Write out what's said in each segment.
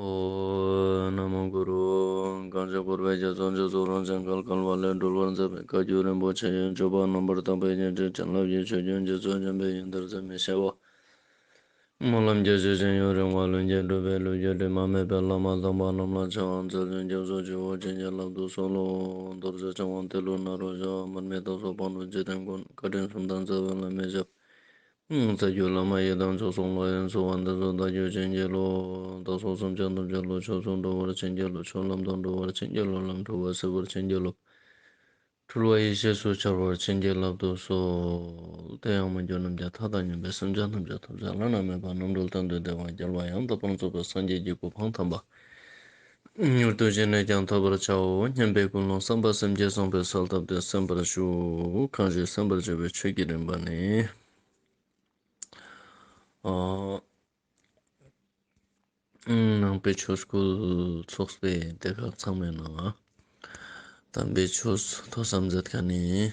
ཨོ་ན་མོ་གུ་རུ། བསྐང་བྱ་བསྐོར་བའི་རྒྱ་མཚོ་མཇུག་རྫོགས་རང་བྱང་སྐལ་དཀར་བ་ལས་སྒྲོལ་བར་མཛད་པའི་བཀའ་བརྒྱུད་རིན་པོ་ཆེ་ཡོན་མཆོད་པ་རྣམ་པར་དག་པའི་བརྙན་འཕྲིན་བྱིན་རླབས་ཀྱི་ཆུ་རྒྱུན་གྱི་མཚོ་རྒྱུན་པས་ཡུན་དར་ཚད་མེད་བྱེད་པ། སྨོན་ལམ་རྒྱས་བཞུད་ཅིང་ཡུན་རིང་བར་ལུས་འགྱེད་སྒྲུབ་པའི་ལུས་རྒྱུད་དྲི་མ་མེད་པའི་བླ་མ་དམ་པ་རྣམས་ལ་ཕྱག་དབང་མཛད་ཚུལ་རྒྱ་མཚོ་ཆུ་བོ་ཆེ་བརྒྱད་རླབས་དུ་གསོལ་ལོ། རྡོ་རྗེ་འཆང་དབང་ཏེ་ལུགས་ནཱ་རོ་ཤཱ་བ་མར་མེ་ཏོག་སོགས་སྤང་རོ་རྗེས་དྲན་དགོན་བཀའ་དྲིན་གསུམ་དང་རྩ་བའི་བླ་མའི་ཞབས་རྩ་རྒྱུད་བླ་མ་ཡི་དམ་མཆོག་གསུམ་ལོ་ཡོན་བསྩུ་བ་འདི་ཚོ་བདག་རྒྱུད་ཆེན་རྒྱལ་ལོ། བདག་སོགས་སུམ་བརྒྱ་ནུབ་བརྒྱ་ལོ་ཕྱོགས་མཚུངས་འགྲོ་བར་ཆེན་རྒྱལ་ལོ་ཕྱོགས་ལམ་དང་འགྲོ་བར་ཆེན་རྒྱལ་ལོ་ལམ་འཁྲུལ་བ་སེལ་བར་ཆེན་རྒྱལ་ལོ། འཁྲུལ་བ་ཡེ་ཤེས་སུ་འཆར་བར་ཆེན་རྒྱལ་བླ་བསྡུ་སོགས། དེ་ཡང་མི་འགྱུར་རྣམ་རྒྱལ་ཐ་དག་ཉོན་པའི་སེམས་ཅན་ཐམས་ཅད་ཐོབ་བྱ་བླ་ན་མེད་པ་རྣམ་གྲོལ་དང་འདུས་སྡེ་བར་རྒྱལ་བ་ཡང་དག་པར་རྫོགས་པའི་སངས་རྒྱས་ཀྱི་གོ་འཕང་དམ་པ། མྱུར་དུ་བཞེས་ནས་ཀྱང་ཐོབ་པར་བྱའོ་སྙམ་པའི་ཀུན་སློང་བསམ་པ་སེམས་བསྐྱེད་གསུངས་པའི་གསོལ་བཏབ་སྟེ་གསན་པར་ཞུ། གང་ཞིག་གསན་པར་བྱ་བའི་ཆོས་ཀྱི་རིམ་པ་ནི། ནང་པའི་ཆོས་སྐུ་ཚོགས་པའི་སྡེ་ཁག་ཚང་མའི་ནང། དམ་པའི་ཆོས་མཐོ་བསམ་མཛད་དཀའ་ནི།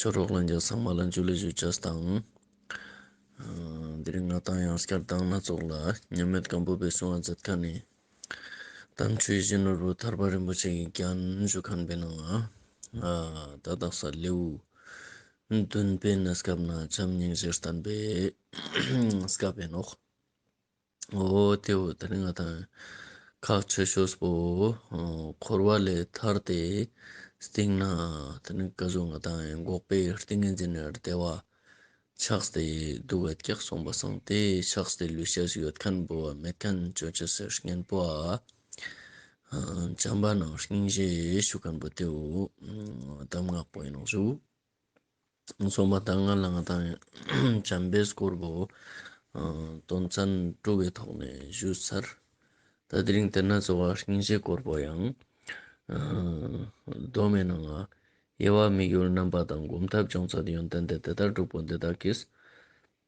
ཕྱག་རོགས་ལ་འཇགས་ཚངས་མ་ལ་འཇུ་ལེ་ཞུ་བྱས་དང། འདི་རིང་ང་དང་ཡང་སྐྱར་ལྡང་སྣ་ཚོགས་ལ། མཉམ་མེད་སྒམ་པོ་པའི་གསུང་བ་མཛད་ཁ་ནས། དམ་ཆོས་གཞོན་ནུ་རུ་ཐར་པ་རིན་པོ་ཆེ་གི་རྒྱན་བཞུགས་ཁང་པའི་ནང། བརྡ་རྟགས་ས་ལེའུ་བདུན་པའི་གནས་སྐབས་ན་བྱམས་སྙིང་རྗེར་བསྟན་པའི་སྐལ་བའི་ནོར། འོ་དེ་འོ་ད་རིང་ང་ད་ཁག་མཆོད་ཤོས་པོ་འཁོར་བ་ལས་ཐར་ཏེ་སྟེང་ན་ད་ནི་སྐལ་བཟང་ང་ད་འགོག་པའི་ཏིང་ངེ་འཛིན་ནི་བདེ་བ་ཆགས་སྟེ་སྡུག་བས་སྐྱག་གསུངས་པ་སངས་ཏེ་ཆགས་སྟེ་ལུས་ཤ་ཟ་ཡོད་མཁན་པོ་བ་མེད་མཁན་སྤྱོད་ཆ་ཟེར་མཁན་པོ་བ་བྱམས་པ་ནང་སྙིང་རྗེ་ཞུ་མཁན་པོ་དེ་འོ་གདམས་ངག་པོ་ཡིན་ནོ་ཞུ། སོང་བ་དང་ང་ལ་ང་དང་བྱམས་པས་སྐོར་བོ་དོན་ཚན་དྲུག་པའི་ཐོག་ནས་ཞུས་ཚར། ད་དེ་རིང་དེ་ན་ཚོ་བ་ཤིང་བྱའི་སྐོར་བོ་ཡང་གདོན་མི་སྣང། དབྱེ་བ་དམིགས་ཡུལ་རྣམ་པ་དང་སྒོམ་ཐབས་སྦྱོང་ཚད་ཡོན་ཏན་ཏེ་དེ་ལྟར་དྲུག་པོ་འདི་དག་གིས།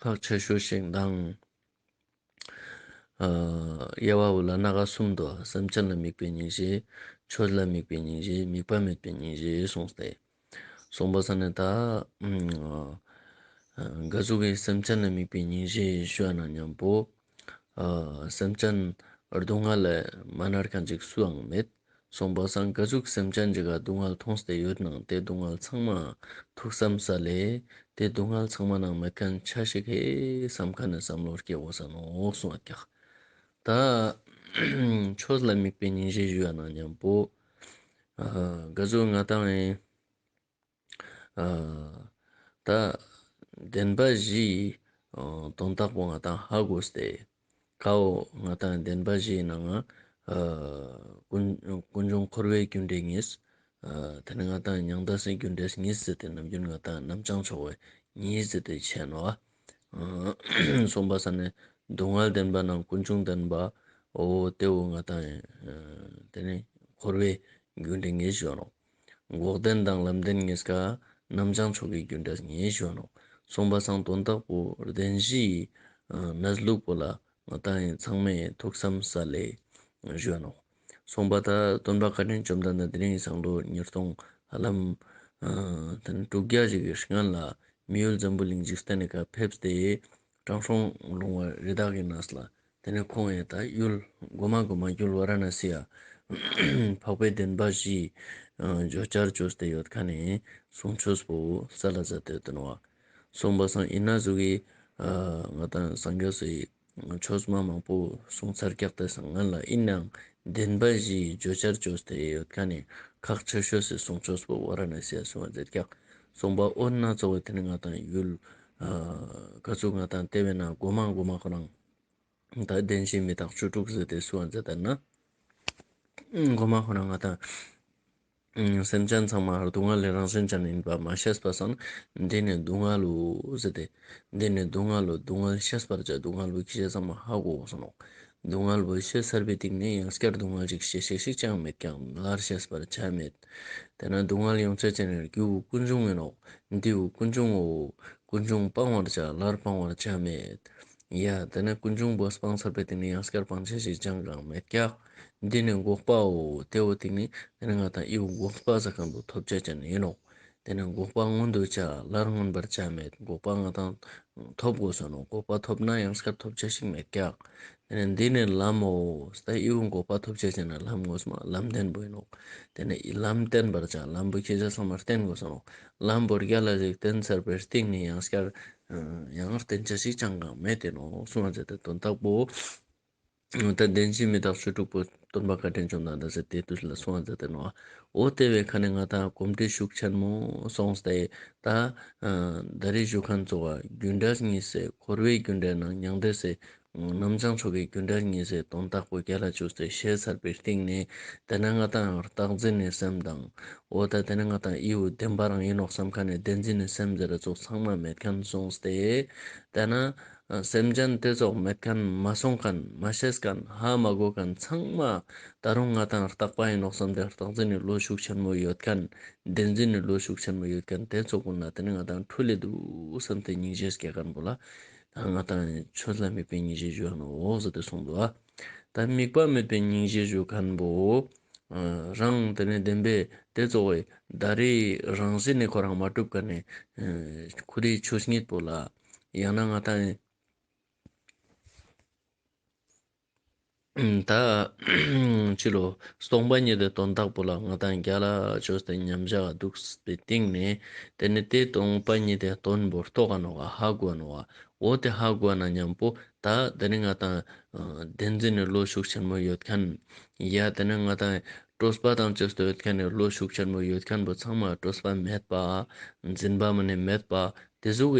ཁག་ཆེ་ཤོས་ཤིག་དང། དབྱེ་བ་འོད་ལ་སྣ་ག་གསུམ་དུ་སེམས་ཅན་ལ་དམིགས་པའི་ཉིན་བྱེད། ཆོས་ལ་དམིགས་པའི་ཉིན་བྱེད་དམིགས་པ་མེད་པའི་ཉིན་བྱེད་གསུངས་ཏེ། གསུངས་པ་ས་ནི་ད། འགའ་ཞིག་གིས་སེམས་ཅན་ལ་དམིགས་པའི་ཉིན་བྱེད་ཞུ་བ་ན་སྙམ་པོ། སེམས་ཅན་སྡུག་བསྔལ་ལས་མ་མནར་མཁན་ཅིག་སུའང་མེད། སོང་པ་སངས་རྒྱས་གཟུགས་སེམས་ཅན་གྱི་སྡུག་བསྔལ་མཐོང་སྟེ་ཡོད་ནའང་དེ་སྡུག་བསྔལ་ཚང་མ་ཐུགས་བསམ་ས་ལས། དེ་སྡུག་བསྔལ་ཚང་མ་ནང་མེད་མཁན་ཆ་ཞིག་ཧེ་བསམ་ཁ་ནས་བསམ་བློར་སྐྱེ་བོ་ཟ་ནོ་གསུང་བ་ཀྱག་ད། ཆོས་ལ་དམིགས་པའི་ཉིན་བྱེད་བཞི་ཡོད་ན་སྙམ། པོ་དགའ་གཟུགས་མངའ་ཐང་ཨེ། ད་བདེན་པ་བཞི་ཡི་དོན་རྟགས་པོ་ང་དང་ཧ་གོ་སྟེ། ཁའོ། ང་དང་བདེན་པ་བཞི་ཡི་ནང་ང། ཀུན་འབྱུང་འཁོར་བའི་རྒྱུ་འབྲས་ངེས། དེ་ནི་ང་དང་མྱང་འདས་སའི་རྒྱུ་འབྲས་ངེས་ཟེར་ཏེ་ནམ་རྒྱུན་ང་དང་རྣམ་བྱང་ཕྱོགས་བས་ངེས་ཟེར་ཏེ་འཆད་ནོ། གསུམ་པ་ས་ནི་སྡུག་བསྔལ་བདེན་པ་རྣམས་ཀུན་འབྱུང་བདེན་པའོ། ལྟེ་བའི་ང་དང། དེ་ནི་འཁོར་བའི་རྒྱུ་འབྲས་ངེས་བཞིན་ནོ། འགོག་བདེན་དང་ལམ་བདེན་ངེས་དགག། རྣམ་བྱང་མཆོག་གི་རྒྱུ་འབྲས་ངེས་བཞོན་ནོ། གསུངས་པ་གསང་དོན་དག་པོ་བདེན་བཞི་ཡི། གནས་ལུགས་པོ་ལ་ང་བལྟ་ཡིན་ཚང་མས་ཐུགས་བསམ་ས་ལེ་བཞོན་ནོ། གསུངས་པ་ལྟར་སྟོན་པ་བཀའ་དྲིན་བཅོམ་ལྡན་འདས་དེ་རིང་གསང་ཐོ་ཉེར་སྟོང་ཧ་ལམ། དྲུག་བརྒྱ་ཞིག་གི་སྔོན་ལ། མི་ཡུལ་འཛམ་བུའི་གླིང་འཇིག་རྟེན་ལས་ཁ་ཕེབས་ཏེ། ཀྲང་ཧྲོང་ལུང་བ་རི་དྭགས་ཀྱི་ནགས་ལ་དེ་ནས་ཁོང་ཡས་ད་གཡུལ། མགོ་མ་མགོ་མ་གཡུལ་བ་ར་ན་སི་ཡ། འཕགས་པའི་བདེན་པ་བཞི། བརྗོད་བྱར་བཅོས་བསྟད་ཡོད་ཁ་ནས་བཟུང་ཆོས་སྤོ་བོ་ས་ལ་ཟ་དོད་དོན་བ། གསུངས་པ་སངས་ཨི་ན་ཟུག་གིས། ང་དང་སངས་རྒྱས་སུ་ཡིས། ཆོས་སྨྲ་མང་པོ་གསུངས་ཚར་སྐྱག་དེ་སང་ང་ལ་ཨི་སྣང། བདེན་པ་བཞི་བརྗོད་བྱར་བཅོས་བསྟད་ཡོད་ཁ་ནས་ཁག་ཆོས་ཤོད་སི་གསུངས་ཆོས་སྤོ་བོ་ར་ན་སི་ཡ་གསུངས་བ་མཛད་སྐྱག། རྩོམ་པ་པོ་སྣ་ཚོགས་པ་དེ་ནི་ང་དང་ཡུལ། དཀའ་སྤྱོད་ང་དང་ལྟེ་བའི་ནང་སྒོ་མང་སྒོ་མང་ཁོ་རང། ད་བདེན་བཞིའི་མི་དག་བཅུ་དྲུག་ཟེར་ཏེ་བསུ་བ་མཛད་ལྟར་ན། སྒོ་མང་ཁོ་རང་ང་དང། སེམས་ཅན་ཚང་མར་སྡུག་བསྔལ་ལས་རང་བཞིན་ཅན་ཡིན་པ་མ་ཤེས་པ་སོགས་ནི་འདི་ནི་སྡུག་བསྔལ་ལོ་ཟེར་ཏེ། འདི་ནི་སྡུག་བསྔལ་ལོ་སྡུག་བསྔལ་ཤེས་པར་བྱ་སྡུག་བསྔལ་བའི་ཁྱད་ཚང་མ་ཧ་གོ་གསུང་ངོ། སྡུག་བསྔལ་བའི་ཤེས་བྱ་བའི་སྟེང་ནས་ཡང་བསྐྱར་སྡུག་བསྔལ་ཅིག་ཤེས་ཤེས་ཤིག་ཅང་མེད་ཀྱང་སླར་ཤེས་པར་བྱ་མེད། དེ་ན་སྡུག་བསྔལ་ཡོངས་སྤྱད་ཅིང་རེག་རྒྱུ་བོ་ཀུན་འབྱུང་མིན་ནོ། འདི་བོ་ཀུན་འབྱུང་ངོ། ཀུན་འབྱུང་སྤང་བར་བྱ་སླར་སྤང་བར་བྱ་མེད། ཡ། དེ་ནི་ཀུན་འབྱུང་བོ་སྤང་ཚར་པའི་དེ་ནི་ཡང་སྐྱར་སྤང་བྱ་ཞིག་ཅང་ཀང་མེད་ཀྱ། འདི་ནི་འགོག་པའོ། དེ་བོ་དེ་ནི་དེ་ནི་ང་དང་དབྱི་བོ་འགོག་སྤ་ཟ་ཀང་དུ་ཐོབ་བྱ་ཅན་ཡིན་ནོ། དེ་ནི་འགོག་པ་མངོན་དུ་བྱ། སླར་མངོན་པར་བྱ་མེད་འགོག་པ་ང་དང། ཐོབ་དགོས་བསོད་ནམས་འགོག་པ་ཐོབ་ན་ཡང་སྐབས་ཐོབ་བྱ་ཞིག་མེད་ཀྱང། དེ་ནི་འདི་ནི་ལམ་མོ། ས་གཡོའུ་འགོག་པ་ཐོབ་བྱ་བྱས་ན་ལམ་དངོས་སུ་མ་ལམ་བརྟན་པོ་ཡིན་ནོ། དེ་ནི་ལམ་བརྟན་པར་བྱ་ལམ་བུ་ཁྱེད་ཅག་ཚང་མར་བསྟན་དགོས་བསོད་ནམས་ལམ་བུར་རྒྱ་ལ་རིགས་བསྟན་ཚར་པའི་སྟེང་ནས་ཡང་སྐར། ཡང་བརྟན་བྱ་ཞིག་ཅང་གང་མེད་བསྟན་ནོ་གསུང་བ་མཛད་དེ་དོན་དག་པོ། ཨོ་ཏེ་བདེན་བཞི་མི་རྟག་ཆོས་དྲུག་པོ། སྟོན་པ་བཀའ་དྲིན་བཅོམ་ལྡན་འདས་ཟེར་དེའི་དུས་ལ་སོང་བ་མཛད་དེ་ནོ། ཨོ་ཏེ་བའི་ཁ་ནས་ང་དང་གོམས་འདྲིས་ཤུགས་ཆེན་མོ་སོང་སྟེ། ད། ཟླ་རེའི་བཞུགས་ཁང་གཙོ་བ་རྒྱུད་འགྲེལ་གཉིས་སེ་འཁོར་བའི་རྒྱུད་འགྲེལ་ནང་མྱང་འདས་སེ། རྣམ་བྱང་ཆོ་གའི་རྒྱུད་འགྲེལ་གཉིས་སེ་དོན་རྟགས་པོ་བརྒྱད་ལ་བཅུ་སེ་བཤད་ཚར་པའི་སྟེང་ནས། དེ་ནི་ང་དང་རྟགས་འཛིན་ནས་སེམས་དང། ཨོ་ཏེ་དེ་ནི་ང་དང་དབྱེའུ་བདེན་པ་རང་ཡིན་ནོ་བསམ་ཁ་ནས་བདེན་འཛིན་ནས་སེམས་ཟེར་ར་ཚོགས་ཚང་མ་མེད་མཁན་སོང་སྟེ། དེ་ན། སེམས་ཅན་དེ་ཚོགས་མེད་གན་མ་སོང་གན་མ་ཤེས་གན་ཧ་མ་གོ་གན་ཚང་མ་ད་རུང་ང་དང་རྟག་པ་ཡིན་ནོག་བསམ་དེ་རྟག་འཛིན་ནི་བློ་ཤུགས་ཆེན་མོ་ཡོད་གན་བདེན་འཛིན་ནི་བློ་ཤུགས་ཆེན་མོ་ཡོད་གན་དེ་ཚོགས་པོ་ན་དེ་ནི་ང་དང་འཁྲུལ་ལེ་འདུག་བསམ་དེ་སྙིང་རྗེ་སྐྱེ་གན་པོ་ལ་ད་ང་དང་ཆོས་ལ་དམིགས་པའི་སྙིང་རྗེ་བཞུགས་གན་འོག་བཟོ་དེ་གསུངས་འདུག་ཨ་ད་དམིགས་པ་མེད་པའི་སྙིང་རྗེ་བཞུགས་གན་པོ་རང་དེ་ནི་བདེན་པས་དེ་ཚོགས་བའི་ད་རེས་རང་བཞིན་ནི་ཁོ་རང་མ་གྲུབ་གན་ནི་ཁུ་དེ་ཆོས་ཉིད་པོ་ལ། ཡང་ན་ང་དང། ད་ཕྱིར་རོ། སྟོང་པ་ཉིད་དེ་དོན་དག་པོ་ལ་ང་དང་རྒྱ་ལ་ཆོས་དེ་མཉམ་བཞག་འདུག་པའི་སྟེང་ནས་དེ་ནི་དེ་སྟོང་པ་ཉིད་དེ་དོན་བོར་ཐོ་ག་ནོ་ག་ཧ་གོ་ནོ་བ་འོ་དེ་ཧ་གོ་ན་སྙམ་པོ་ད་དེ་ནི་ང་དང། བདེན་འཛིན་ནི་བློ་ཤུགས་ཆེན་མོ་ཡོད་མཁན། ཡ་དེ་ནི་ང་དང། སྤྲོས་པ་དང་བཅས་སྟོན་མཁན་ནི་བློ་ཤུགས་ཆེན་མོ་ཡོད་མཁན་པོ་ཚང་མ་སྤྲོས་པ་མེད་པ། འཛིན་པའམ་ནི་མེད་པ། དེ་གཟུགས་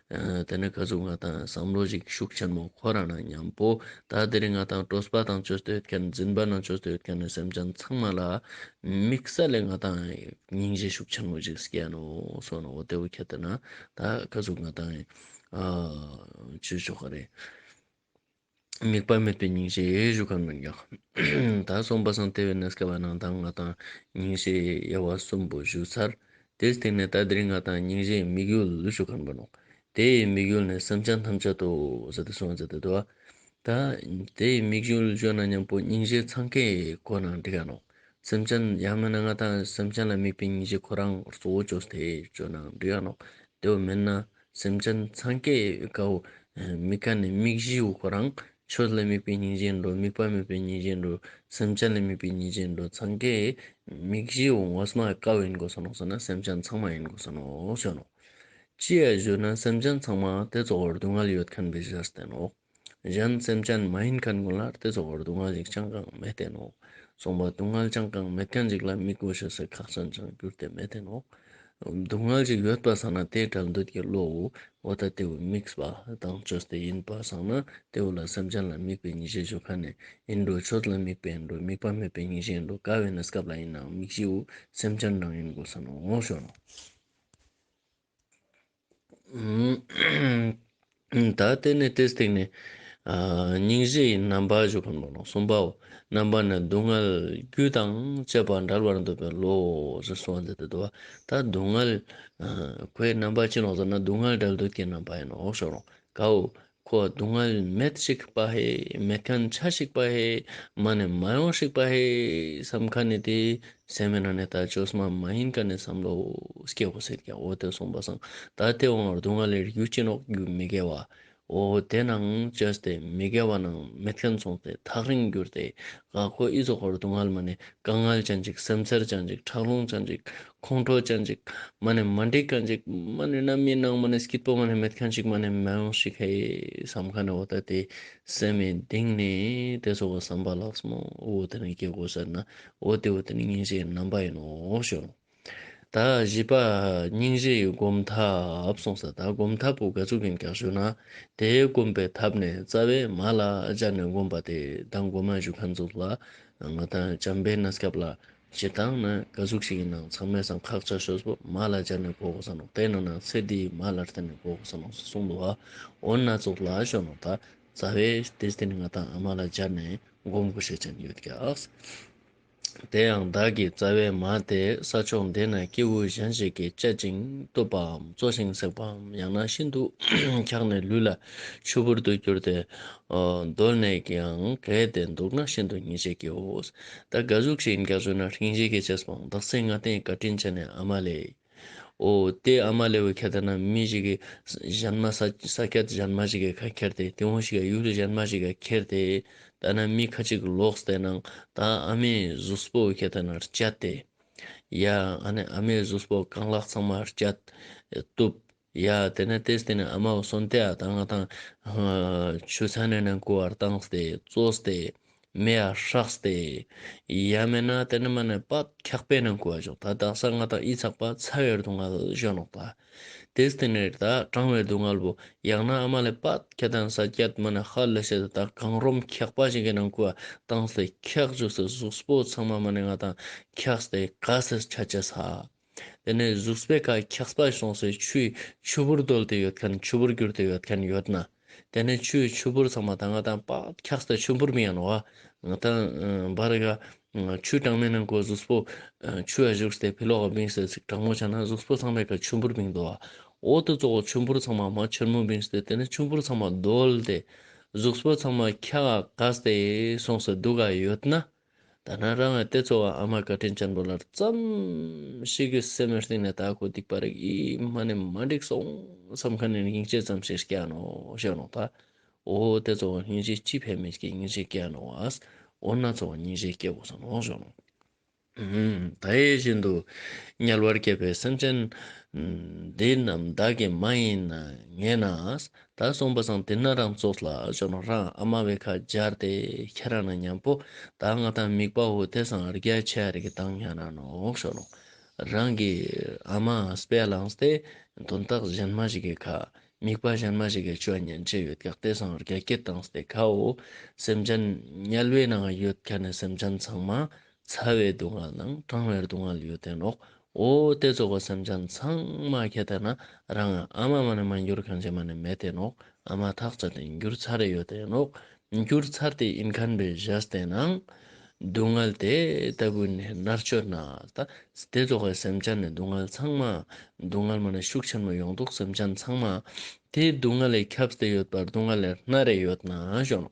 བས། དེ་ནི་ག་གཟུགས་ང་དང་བསམ་བློ་གཞིག་ཤུགས་ཆེན་མོ་ཁོ་རང་ན་མཉམ་པོ། ད་འདིར་ང་དང་སྤྲོ་སྤ་དང་ཆོས་སྟོད་མཁན་འཛིན་པ་ན་ཆོས་སྟོད་མཁན་ནི་སེམས་ཅན་ཚང་མ་ལ། དམིགས་བསལ་ལས་ང་དང་སྙིང་རྗེ་ཤུགས་ཆེན་མོ་ཞིག་སྐྱེས་ནོ་སོ་ན་འོ་དེ་འོ་ཁྱེད་ལྟ་ན། ད་ག་གཟུགས་ང་དང། བཅོས་ཆོག་ག་རེད། དམིགས་པ་མེད་པའི་ཉིན་ཞིག་བཞུགས་ཁར་མི་འགྱང། ད་སོང་པ་སངས་ལྟེ་བའི་ནས་སྐལ་བ་ནང་དང་ང་དང་ཉིན་ཞིག་དབྱེ་བ་གསུམ་པོ་བཞུགས་ཚར། དེའི་སྟེང་ནས་ད་དེར་ང་དང་ཉིན་ཞིག་དམིགས་ཡུལ་བཞུགས་ཁར་འབོད། དེ་ཡི་དམིགས་ཡུལ་ནི་སེམས་ཅན་ཐམས་ཅད་དུ་ཟ་དེ་ཟུང་ཟ་དེ་འདུ་བ། ད་དེ་ཡི་དམིགས་ཡུལ་བརྗོད་ན་སྙམ་པོ་ཉིན་ཞིག་འཚང་ཁའི་སྒོ་ནང་འདི་ག་ནང་སེམས་ཅན་ཡང་མིན་ན་ང་དང་སེམས་ཅན་ལ་དམིགས་པའི་ཉིན་ཞིག་ཁོ་རང་གཙོ་བོ་ཇོ་སྟེ་ཇོ་ནང་འདི་ག་ནང་དེ་བ་མིན་ན། སེམས་ཅན་འཚང་ཀའི་དགའ་བོ། མིག་ག་ནི་མིག་བཞིའི་དབུགས་པ་རང། ཆོས་ལ་དམིགས་པའི་སྙིང་རྗེ་འགྲོ། དམིགས་པ་མེད་པའི་སྙིང་རྗེ་འགྲོ། སེམས་ཅན་ལ་དམིགས་པའི་སྙིང་རྗེ་འགྲོ། འཚང་ཀའི། མིག་བཞིའི་དབུགས་ངོ་སྨྲ་བའི་དཀའ་བ་ཡིན་དགོས་སོ་ནོ་ཟེར་ན་སེམས་ཅན་འཚང་མ་ཡིན་དགོས་སོ་ནོ་ཞེས་ནོ། ཅི་ཡ་བཞུ་ན་སེམས་ཅན་འཚང་མ་དེ་གཙོ་བོར་སྡུག་བསྔལ་ཡོད་མཁན་པའི་གཞིར་བསྟན་ནོ། གཞན་སེམས་ཅན་མ་ཡིན་མཁན་ཀུན་ལ་དེ་ཚོ་བར་སྡུག་བསྔལ་ཞིག་ཅང་གང་མི་བསྟན་ནོ། གསུངས་པ་སྡུག་བསྔལ་ཅང་གང་མེད་མཁན་ཞིག་ལ་མི་གོ་ཞེས་སོགས་ཁག་ཅན་ཅང་གྱུར་ཏེ་མི་བསྟན་ནོ། སྡུག་བསྔལ་ཞིག་ཡོད་པར་བསམས་ན་དེའི་གྲལ་འདོད་ཀྱི་བློ་འོ་འོ་ད་དེའུ་དམིགས་པ་དང་བཅོས་ཏེ་ཡིན་པར་བསམས་ན་དེའུ་ལ་སེམས་ཅན་ལ་དམིགས་པའི་ཉིད་ཤེས་བྱོ་ཁ་ནས་ཡིན་འགྲོ་ཆོས་ལ་དམིགས་པའི་ཡིན་འགྲོ་དམིགས་པ་མེད་པའི་ཉིད་ཤེས་ཡིན་འགྲོ་དགའ་བའི་ནི་སྐབས་ལ་ཡིན་ནའང་དམིགས་གཞིའོ་སེམས་ཅན་རང་ཡིན་དགོས་ས་ནོ། ད་ལྟའི་ནི་དེ་སྟེང་ནས། སྙིང་རྗེ་ཡི་རྣམ་པར་བཞུགས་པ་ནོ། གསུམ་པའོ། རྣམ་པར་ནི་སྡུག་བསྔལ་རྒྱུ་དང་བཅས་པ་འདྲ་བར་འདོད་པའི་བློའོ་ཞེས་གསུངས་པ་འདི་དེ་ལྟ་བ། ད་སྡུག་བསྔལ། ཁོའི་རྣམ་པ་ཅི་ནོ་ཟེར་ན་སྡུག་བསྔལ་དགྲ་བགེགས་ཀྱི་རྣམ་པ་ཡིན་ནོ་ཞོག་རུང་ཀའོ། ཁོ་སྡུག་བསྔལ་མེད་ཤིག་སྤ་ཧེ། མེད་མཁན་ཆ་ཤིག་སྤ་ཧེ། མ་ནས་མ་ཡོང་ཤིག་སྤ་ཧེ། བསམ་ཁ་ནི་དེ་སེམས་མེད་ན་ནི་ད་ཆོས་སྨྲ་མ་ཡིན་ཀ་ནས་བསམ་ལོ། སྐྱེ་བོ་སེར་སྐྱ་འོ་དོད་སོང་པ་སང་ད་ལྟའི་དབང་བར་སྡུག་བསྔལ་ལས་རྒྱུ་གཅིག་ནོག་རྒྱུ་མི་དགེ་བ། འོ་དེ་ནའང་ཆོས་དེ་མི་དགེ་བ་ནའང་མི་མཁན་སོང་སྟེ་ཐག་རིང་གྱུར་ཏེ། ག་ཁོ་ཨི་ཚོགས་བར་སྡུག་བསྔལ་མ་ནས་དཀའ་བསྔལ་ཅན་ཅིག་སེམས་འཚེར་ཅན་ཅིག་ཁྲག་རླུང་ཅན་ཅིག་ཁོང་ཁྲོ་ཅན་ཅིག་མ་ནི་མ་འདྲེས་མཁན་ཅིག་མ་ནི་རྣམ་སྨིན་སྣང་མ་ནི་སྐྱིད་པོ་མ་ནི་མེད་མཁན་ཅིག་མ་ནི་མེ་ལོང་ཞིག་ཧའི་བསམ་མཁན་ནི་འོ་ད་དེ་སེམས་མའི་གདིང་ནས་དེ་ཚོ་བ་བསམ་པ་ལགས་སམ་འོ་དེ་ནི་སྐྱེ་དགུ་ཟེར་ན་འོ་དེ་འོ་དེ་ནི་སྙིང་རྗེའི་རྣམ་པ་ཡིན་ནོ་ཞོ། ད་བཞི་པ་སྙིང་རྗེ་ཡི་སྒོམ་ཐབས་གསུངས་ས་ད་སྒོམ་ཐབས་པོ་འགའ་ཚུགས་ཀྱིན་ཀྱང་བཞུགས་ན་དེའི་སྒོམ་པའི་ཐབས་ནི་རྩ་བའི་མ་ལ་སྦྱར་ནས་སྒོམ་པ་དེ་ད་སྒོམ་མ་བཞུགས་མཁན་ཚོ་ལ་ང་ད་བྱམས་པའི་ན་སྐབས་ལ་བྱེད་སྟངས་ནི་སྐད་གཟུགས་ཤིག་གི་ནང་ཚང་མའི་སམ་ཁག་ཆ་ཤོས་སུ་མ་ལ་སྦྱར་ནས་གོ་བསམ་རུང་དེ་ནང་ནང་ཚེ་འདིའི་མ་ལར་བརྟེན་ནས་གོ་བསམ་རུང་ཞེས་གསུངས་འདུག་འོ་ན་གཙུག་ལག་ཤོ་ནོ་དང་རྩ་བའི་སྡེ་སྟེ་ང་དང་ཨ་མ་ལ་སྦྱར་ནས་བསྒོམ་དགོས་ཞེས་ཅན་ཡོད་ཀྱང། དེ་ཡང་བདག་གི་རྩ་བའི་མ་དེ་ས་ཕྱོགས་འདི་ན་སྐྱེས་བུ་གཞན་ཞིག་གིས་སྤྱད་ཅིང་གཏུབ་པའམ་བཙོ་ཞིང་བསྲེགས་པའམ་ཡང་ན་ཤིན་ཏུ་འཁྱགས་ནས་ལུས་ལ་ཕྱུར་བུར་དུ་གྱུར་ཏེ། གདོད་ནས་ཀྱང་གལ་ཏེ་འདུག་ན་ཤིན་ཏུ་ཉེས་བྱས་ཀྱིའོ། ད་ག་གཟུགས་ཤིག་འགས་བཟོས་ན་ཤིང་བྱེད་ཀྱི་ཆེད་སོང་བདག་སེམས་ང་བརྟན་བཀའ་དྲིན་ཆེ་ནས་ཨ་མ་ལས། ཨོ། དེ་ཨ་མ་ལས་བུ་ཁྱེད་ལྟ་ན་མི་ཞིག་གིས་གཞན་མ་ས་སྐྱ་གཞན་མ་ཞིག་གི་ཁ་ཁྱེར་ཏེ་དེ་འོང་ཞིག་ག་ཡུལ་གཞན་མ་ཞིག་ག་ཁྱེར་ཏེ་ལྟ་ན་མི་ཁ་ཅིག་ལོགས་དེ་ནང་ད་ཨ་མའི་གཟུགས་སྤོ་བུ་ཁྱེད་ལྟ་ན་བསྐྱལ་ཏེ། ཡ། ཨ་ནི་ཨ་མའི་གཟུགས་སྤོ་རྐང་ལག་ཚང་མ་བསྐྱལ། བཏུབ། ཡ། དེ་ནས་དེས་དེ་ནས་ཨ་མའོ་སོན་ཏེ་ཨ་དང་ང་དང། ཆུ་ཚན་ནས་ནས་ཀུ་ཨར་བཏང་སྟེ་བཙོས་ཏེ། མེ་ཨར་ཧྲག་སྟེ། ཡ། མེ་ནས་དེ་ནས་མ་ནས་པ་འཁྱག་པའི་ནས་ཀུ་ཨ་བྱུག་ད་དག་ས་ང་དང་ཨི་ཚག་པ་ཚ་བའི་རྡུང་ཨལ་བཞོན་ནོག་ད། དེས་དེ་ནས་ད་གྲང་བའི་རྡུང་ཨལ་བུ་ཡག་ན་ཨ་མ་ལས་པ་ཁྱེད་དང་ས་སྐྱད་མ་ནས་ཧ་ལི་ཤེ་ད་དག་གང་རོམ་འཁྱག་པ་ཞིག་གི་ནང་ཀུ་ཨ་བཏང་སྟེ་འཁྱག་བྱུག་སེ་གཟུགས་སྤོ་ཚང་མ་མ་ནས་ང་དང་འཁྱག་སྟེ་ག་སེ་ཆ་བྱེད་ས། དེ་ནས་གཟུགས་སྤེལ་ཁ་འཁྱག་སྤ་སོང་སའི་ཆུའི་ཆུ་བུར་བརྡོལ་ཏེ་ཡོད་མཁན་ཆུ་བུར་གྱུར་ཏེ་ཡོད་མཁན་ཡོད་ན། དེ་ནས་ཆུའི་ཆུ་བུར་ཚང་མ་ད་ང་དང་པགས་འཁྱག་སའི་ཆུ་བུར་མི་ཡན་བ། དང། འབར་ག། ཆུའི་གྲངས་མེད་ནང་གོ་གཟུགས་སྤོ། ཆུ་ཡ་བཞུགས་སའི་བི་ལོག་ག་བིང་སའི་ཚིགས་དྲག་མོ་ཆག་ན་གཟུགས་སྤོ་ཚང་མས་ཁ་ཆུ་བུར་མིང་འདོ་བ། འོག་ཏུ་གཙོ་བོ་ཆུ་བུར་ཚང་མ་མ་ཆེར་མོ་བིང་སྟེ་དེ་ནས་ཆུ་བུར་ཚང་མ་བརྡོལ་ཏེ། གཟུགས་སྤོ་ཚང་མ་འཁྱག་ག་སྟེ་སོང་སའི་སྡུག་ག་ཡོད་ན། ད་ནངས་རང་ངའི་ལྟས་ཚོ་བ་ཨ་མ་བཀའ་དྲིན་ཅང་གྲོ་ལར་བརྩམས། ཤི་གི་སེ་མོའི་སྟེང་ནས་ད་གོ་སྡིག་པ་རིགས་ཨི་མ་ནི་མ་འགྲིག་སོང་བསམ་ཁ་ནས་སྙིང་རྗེ་ཙམ་ཞིག་སྐྱ་ནོ་ཞེས་ལོང་ད། འོ་ལྟས་ཚོ་བ་སྙིང་རྗེ་ཅི་ཕན་མེད་ཀྱི་སྙིང་རྗེ་སྐྱ་ནོ་བས། འོ་ན་ཚོ་བ་སྙིང་རྗེ་སྐྱེ་བོ་སོང་ནོ་ཞེས་ལོང། ད་ཡིད་བཞིན་དུ་དམྱལ་བར་སྐྱེས་པའི་སེམས་ཅན། འདི་རྣམས་བདག་གི་མ་ཡིན་ངེས་ན། ད་སོང་པ་སང་དེ་ན་རང་ཙོགས་ལ་ཤོག་ན་རང་ཨ་མ་བས་ཁ་སྦྱར་ཏེ་ཁྱེད་རང་ན་མཉམ་པོ་ད་ང་ད་མིག་པ་འོ་དེ་སང་རྒྱ་ཆས་རེ་གི་དང་ཡང་རང་ནོག་ཤོག་ལོང་རང་གི་ཨ་མ་སྤེ་ལང་སྟེ་དོན་དག་གཞན་མ་ཞིག་གི་ཁ་མིག་པ་གཞན་མ་ཞིག་གི་ཆོས་ཉན་ཆས་ཡོད་གག་དེ་སང་རྒྱ་སྐད་དང་སྟེ་ཁའོ་སེམས་ཅན་དམྱལ་བའི་ནང་ཡོད་ཁ་ནས་སེམས་ཅན་ཚང་མ་ཚ་བའི་སྡུག་བསྔལ་དང་གྲང་བའི་སྡུག་བསྔལ་ཡོད་དོན་ལོག་ཨོ། དེ་རྫོགས་པ་སེམས་ཅན་ཚང་མ་ཁྱེད་ལྟ་ན་རང་ང་ཨ་མ་མ་ནི་མ་འགྱུར་གང་བྱེད་མ་ནི་མེད་དོན་ལོག་ཨ་མ་ཐག་ཆ་དེ་འགྱུར་ཚར་རེ་ཡོད་དོན་ལོག་འགྱུར་ཚར་དེ་ཨིན་ཁན་པའི་གཞས་བསྟན་ན། སྡུག་བསྔལ་དེ་ལྟ་བུ་ནས་མནར་གཅོད་ན་ད། དེ་རྫོགས་པའི་སེམས་ཅན་ནི་སྡུག་བསྔལ་ཚང་མ། སྡུག་བསྔལ་མ་ནི་ཤུགས་ཆེན་པོ་ཡོང་འདུག་སེམས་ཅན་ཚང་མ། དེ་སྡུག་བསྔལ་ལས་ཁྱབ་བསྡད་ཡོད་པར་སྡུག་བསྔལ་ལས་མནར་རེ་ཡོད་ན་ཞོག།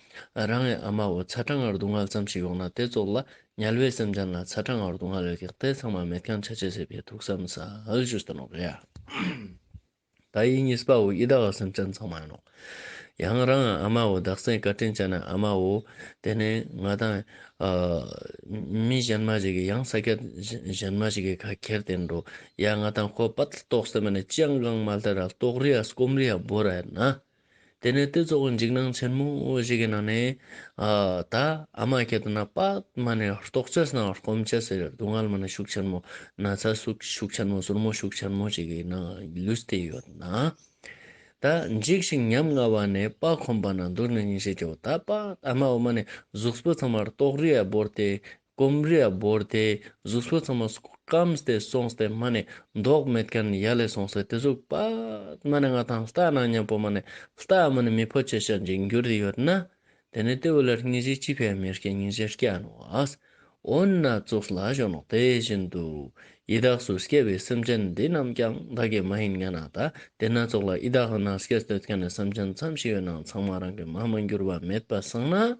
རང་གི་ཨ་མ་བོ་ཚ་གྲང་ངར་དུ་མངལ་ཙམ་ཞིག་ཡོང་ན་དེ་ཙོག་ལ་ཉལ་བའི་སེམས་ཅན་ལ་ཚ་གྲང་ངར་དུ་མངལ་བའི་གེགས་དེ་ཚང་མ་མེད་ཀྱང་ཆ་བྱད་ཟད་པའི་ཐུགས་བསམ་ས་ཨལ་ཇུས་ཏི་ནོག་ཡ། ད་ཡིན་གཉིས་པ་བོ་ཡི་ད་ག་སེམས་ཅན་ཚང་མ་ཡིན་ནོ། ཡང་རང་གི་ཨ་མ་བོ་བདག་སེང་བཀའ་དྲིན་ཅན་ནི་ཨ་མ་བོ་དེ་ནི་ང་དང། མི་གཞན་མ་ཞིག་གིས་ཡང་ས་སྐྱ་གཞན་མ་ཞིག་གི་ཁ་ཁྱེར་ཏེ་འགྲོ་ཡ་ང་དང་ཁོ་དཔའ་ཏི་ཏོག་སེམས་པ་ནི་ཅི་ཡང་གང་མ་ལྟེ་ར་ཏོག་རི་ཡ་སྐོམ་རི་ཡ་སྦོ་ར་ཡ་ན། དེ་ནས་དེ་གཙོ་བོ་འཇིགས་སྣང་ཆེན་མོ་ཞིག་གི་ནང་ནས། ད་ཨ་མ་ཁྱེད་རྣམས་པདྨ་ནས་རྟོགས་བྱེད་སྣང་བར་སྐོམ་བྱེད་ཟེར་སྡུག་བསྔལ་མི་ནི་ཤུགས་ཆེན་མོ། ན་ཚ་ཤུགས་ཆེན་མོ་ཟུར་མོ་ཤུགས་ཆེན་མོ་ཞིག་གི་ནང་ལུས་དེ་ཡོད་ན། ད་འཇིགས་ཤིང་ཉམ་ང་བ་ནས་དཔའ་ཁོམ་པ་ན་འདུག་ནས་ཉིན་ཤས་བརྒྱའོ་ད་པདྨ་འོག་མ་ནས་གཟུགས་པོ་ཚང་མར་རྟོགས་རིས་བོར་ཏེ་སྐོམ་རས་བོར་ཏེ་གཟུགས་སོ་ཚང་མ་སྐམས་ཏེ་སོང་སྟེ་སྨྲ་ནས་མདོག་མེད་མཁན་ཡ་ལས་སོང་ཟེར་དེ་གཟུགས་པདྨ་ནི་ང་དང་ལྟ་ན་སྙན་པོ་མ་ནི་ལྟ་སྨྲ་ནི་མི་ཕོ་ཆེ་ཞེས་འཇིགས་འགྱུར་དེ་ཡོད་ན་དེ་ནི་ལྟེ་བའི་ལར་སྙིང་རྗེ་གཅིག་པའི་མེར་སྐྱེས་སྙིང་རྗེ་སྐྱེ་ནུས་པས། འོ་ན་གཙུག་ལག་གཞོན་ནུ་དེ་བཞིན་དུ། ཡི་དྭགས་སུ་སྐྱེས་པའི་སེམས་ཅན་འདི་རྣམས་ཀྱང་བདག་གི་མ་ཡིན་ངེས་ན་ད་དེ་ན་གཙུག་ལག་ཡི་དྭགས་ན་སྐྱེས་འདོད་མཁན་ནི་སེམས་ཅན་མཚམས་ཤིག་ཡོད་ནའང་ཚང་མ་རང་གི་མ་མ་འགྱུར་བ་མེད་པར་སངས་ན།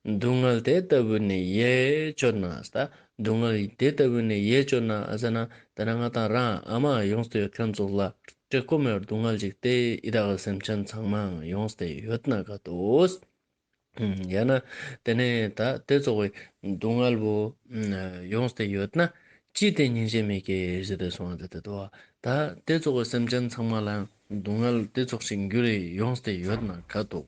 སྡུག་བསྔལ་དེ་ལྟ་བུ་ནི་ཡེ་གཅོད་ན། སྡུག་བསྔལ་དེ་ལྟ་བུ་ནི་ཡེ་གཅོད་ན། ཟེར་ན། དེ་ནས་ང་དང་རང་ཨ་མ་ཡོངས་སུ་ཡོད་མཁན་ཚོ་ལ་བཀྲེས་སྐོམ་ཡོད་སྡུག་བསྔལ་ཅིག་སྟེ་ཡི་དྭགས་ཀྱི་སེམས་ཅན་ཚང་མའང་ཡོངས་སུ་ཡོད་ན་དགའ་འདུག། ཡང་ན། དེ་ནས་ད་དེ་ཚོ་བའི་སྡུག་བསྔལ་བོ། ཡོངས་སུ་ཡོད་ན་ཅི་སྟེ་སྙིང་རྗེ་མེད་ཀྱི་ཞེས་དེ་སོང་བ་དེ་ལྟ་བུའོ། ད་དེ་ཚོ་བའི་སེམས་ཅན་ཚང་མ་ལའང་སྡུག་བསྔལ་དེ་ཚོགས་ཤིག་འགྱུར་ཡོངས་སུ་ཡོད་ན་དགའ་འདུག།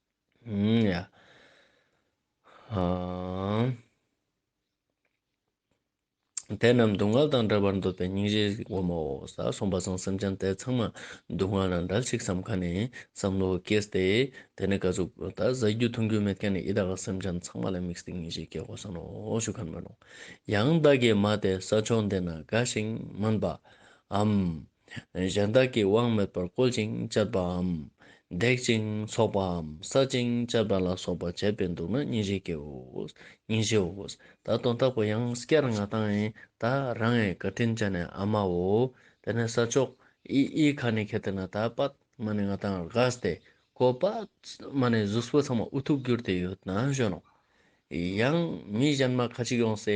ཡ། ཧཱུྃ། དེ་རྣམས་སྡུག་བསྔལ་དང་བྲལ་བར་འདོད་པའི་སྙིང་རྗེའི་སྒོ་མོ། ས་སོང་པ་སོང་སེམས་ཅན་དེ་ཚང་མ་སྡུག་བསྔལ་ལ་འབྲལ་ཞིག་བསམ་མཁའ་ནས་བསམ་བློ་སྐྱེས་ཏེ། དེ་ནས་བཀའ་ཟུར་བུ་ད་གཟའ་རྒྱུད་མཐུན་རྒྱུ་མེད་མཁན་ཡི་དྭགས་ལ་སེམས་ཅན་ཚང་མ་ལ་དམིགས་སའི་སྙིང་རྗེ་སྐྱེ་གོ་ས་ནོ་ཞུ་ག་མི་རུང། ཡང་བདག་གིས་མ་དེ་ས་ཕྱོགས་འདི་ན་དགའ་ཞིང་སྨོན་པའམ། གཞན་དག་གིས་དབང་མེད་པར་བཀོལ་ཅིང་སྤྱད་པའམ། བརྡེག་ཅིང་འཚོགས་པའམ་བསག་ཅིང་སྤྱད་པ་ལ་སོགས་པ་བྱས་པས་འདུག་ན་གཉིས་བཞི་ཀའོ། གཉིས་བཞིའོ། ད་དོན་དག་པོ་ཡང་སྐྱར་ང་དང་ཨིན་ད་རང་ངས་བཀའ་དྲིན་བཅས་ནས་ཨ་མའོ། དེ་ནས་ས་ཕྱོགས་ཨི་ཨི་ཁ་ནི་ཁེ་ཏི་ན་ད་པད་མ་ནི་ང་དང་རཀྵ་སྟེ་གོ་པདྨ་ནི་གཟུགས་སྤུ་ཚང་མ་ཨུ་ཐུག་གྱུར་ཏེ་ཡོད་ན་གཞོན་ནོ། ཡང། མི་གཞན་མ་ཁ་ཅིག་ཡོང་སའི་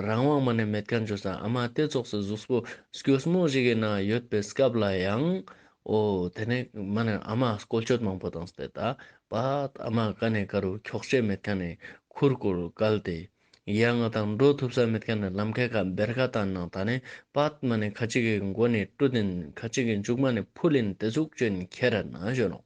རང་དབང་མ་ནས་མེད་ཁ་འབྱོར་ས་ཨ་མ་ལྟས་རྫོགས་སའི་གཟུགས་པོ་སྐྱོས་མོ་ཞིག་གི་ནང་ཡོད་པའི་སྐབས་ལ་ཡང། འོ། དེ་ནས་མ་ནས་ཨ་མ་སྐོལ་སྐྱོད་མང་པོ་དང་སྟེ་ད་བར་ཨ་མ་ཀ་ནས་ཀ་རུ་འཁྱོག་བྱེད་མེད་ཁ་ནས་ཁུར་བསྐོར་བཀལ་ཏེ། ཡ་ང་དང་འགྲོ་ཐུབ་ས་མེད་ཁ་ནས་ལམ་ཁའི་ཁ་འབེར་ཁ་དང་ནང་ད་ནས་བར་མ་ནས་ཁ་ཅིག་གི་མགོ་ནས་ཀྲུ་ལྡན་ཁ་ཅིག་གི་མཇུག་མ་ནས་ཕུ་ལིན་དེ་ཚུགས་ཅན་ཁྱེད་ར་ན་བཞོན་ནོ།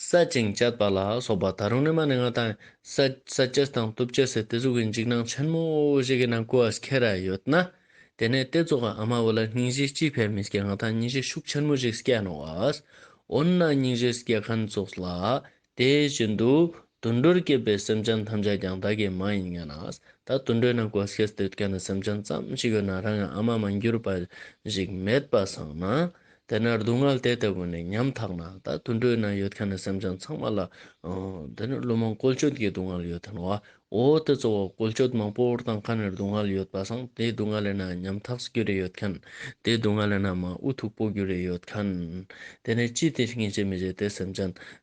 བསལ་ཅིང་བཅད་པ་ལ་སོགས་པ་ད་རུང་ནི་མ་ནི་ང་དང། བསལ་བཅད་དང་བཏུབ་བཅད་སའི་དེ་གཟུགས་ཀྱི་འཇིགས་སྣང་ཆེན་མོ་ཞིག་གི་ནང་སྐུ་བ་ཁྱེར་ར་ཡོད་ན། དེ་ནས་དེ་རྫོགས་པའམ་མ་བུ་ལ་སྙིང་རྗེའི་སྐྱིད་ཕལ་མི་སྐྱེ་ང་དང་སྙིང་རྗེ་ཤུགས་ཆེན་མོ་ཞིག་སྐྱེ་སྣང་བ། འོ་ན་སྙིང་རྗེ་སྐྱེ་མཁན་རྫོགས་ལ་དེ་བཞིན་དུ་དུད་འགྲོར་སྐྱེས་པའི་སེམས་ཅན་ཐམས་ཅད་ཀྱང་ད་གིས་མ་ཡིན་ངེས་ན། ད་དུད་འགྲོའི་ནང་སྐོར་སྐྱེས་སྡོད་མཁན་ནི་སེམས་ཅན་ཙམ་ཞིག་ཡོད་ན་རང་ཡང་ཨ་མ་མ་འགྱུར་བ་ཞིག་མེད་པ་བཟང་ན། དེ་ནས་སྡུག་བསྔལ་དེ་ལྟ་བུ་ནས་ཉམ་ཐག་ན་ད་དུད་འགྲོའི་ནང་ཡོད་མཁན་ནི་སེམས་ཅན་ཚང་མ་ལ། དེ་ནི་བླུན་རྨོངས་བཀོལ་སྤྱོད་ཀྱི་སྡུག་བསྔལ་ཡོད་དོ་ན། འོ་དེ་གཙོ་བོ་བཀོལ་སྤྱོད་མང་པོར་དང་ཁ་ནས་སྡུག་བསྔལ་ཡོད་པ་བཟང་དེའི་སྡུག་བསྔལ་ལས་ན་ཉམ་ཐག་རྒྱུ་རེ་ཡོད་མཁན། དེའི་སྡུག་བསྔལ་ལས་ན་མ་འུ་ཐུག་པོ་རྒྱུ་རེ་ཡོད་མཁན། དེ་ནས་ཅི་སྟེ་ངེས་བྱེད་མི་བྱེད་དེ་སེམས་ཅན།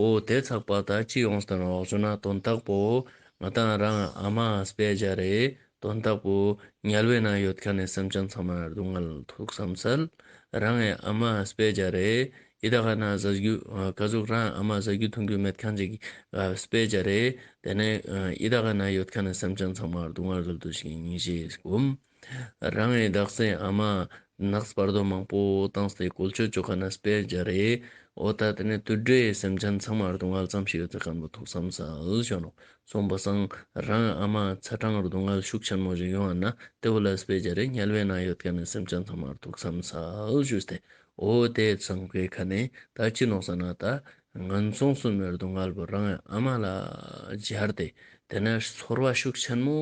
འོ་དེ་ཚགས་པར་དག་ཅིག་ཨོང་སྟོན་རོགས་བྱུང་ན་དོན་དག་པོ། ང་དང་རང་ཨ་མ་སྤེ་རྒྱ་རེད་དོན་དག་པོ། ཉལ་བའི་ནང་ཡོད་ཁ་ནས་སེམས་ཅན་ཚང་མར་སྡུག་བསྔལ་ཐུག་བསམ་གསལ། རང་ཨེ་ཨ་མ་སྤེ་རྒྱ་རེད་ཡི་ད་ཁ་ན་བཟའ་རྒྱུ། ཁ་ཟུག་རང་ཨ་མ་བཟའ་རྒྱུ་འཐུང་རྒྱུ་མེད་ཁ་འཇིག་སྤེ་རྒྱ་རེད་དེ་ནས་ཡི་ད་ཁ་ན་ཡོད་ཁ་ནས་སེམས་ཅན་ཚང་མར་སྡུག་བསྔལ་རབ་ཏུ་ཞིག་ཉིན་ཞིག་བསྒོམ། རང་ཨེ་དག་སའི་ཨ་མ། ནགས་སྤར་རྡོ་མང་པོ་བཏང་སའི་གོལ་ཆོག་ཆོག་ག་ན་སྤེལ་རྒྱ་རེད། ཨོ་ད་ལྟ་ནས་དུད་འགྲོའི་སེམས་ཅན་ཚང་མར་སྡུག་བསྔལ་ཙམ་ཞིག་ཡོད་ཚད་ག་འདོད་ཐུག་བསམ་ཚར་བྱུང་རུང་སོང་བ་སང་རང་ཨ་མ་ཚ་གྲང་སྡུག་བསྔལ་ཤུགས་ཆེན་མོ་ཞིག་ཡོང་བ་ན་དེ་བོ་ལ་སྤེལ་རྒྱ་རེད་ཉལ་བའི་ནང་ཡོད་ག་ནས་སེམས་ཅན་ཚང་མར་ཐུག་བསམ་ཚར་བྱུང་སྟེ་ཨོ་དེ་ཚང་པའི་ཁ་ནས་ད་ཅི་ནོག་ས་ན་ད་ངན་སོང་གསུམ་མེད་སྡུག་བསྔལ་བུ་རང་ཨ་མ་ལ་སྦྱར་ཏེ་དེ་ནས་ཚོར་བ་ཤུགས་ཆེན་མོ་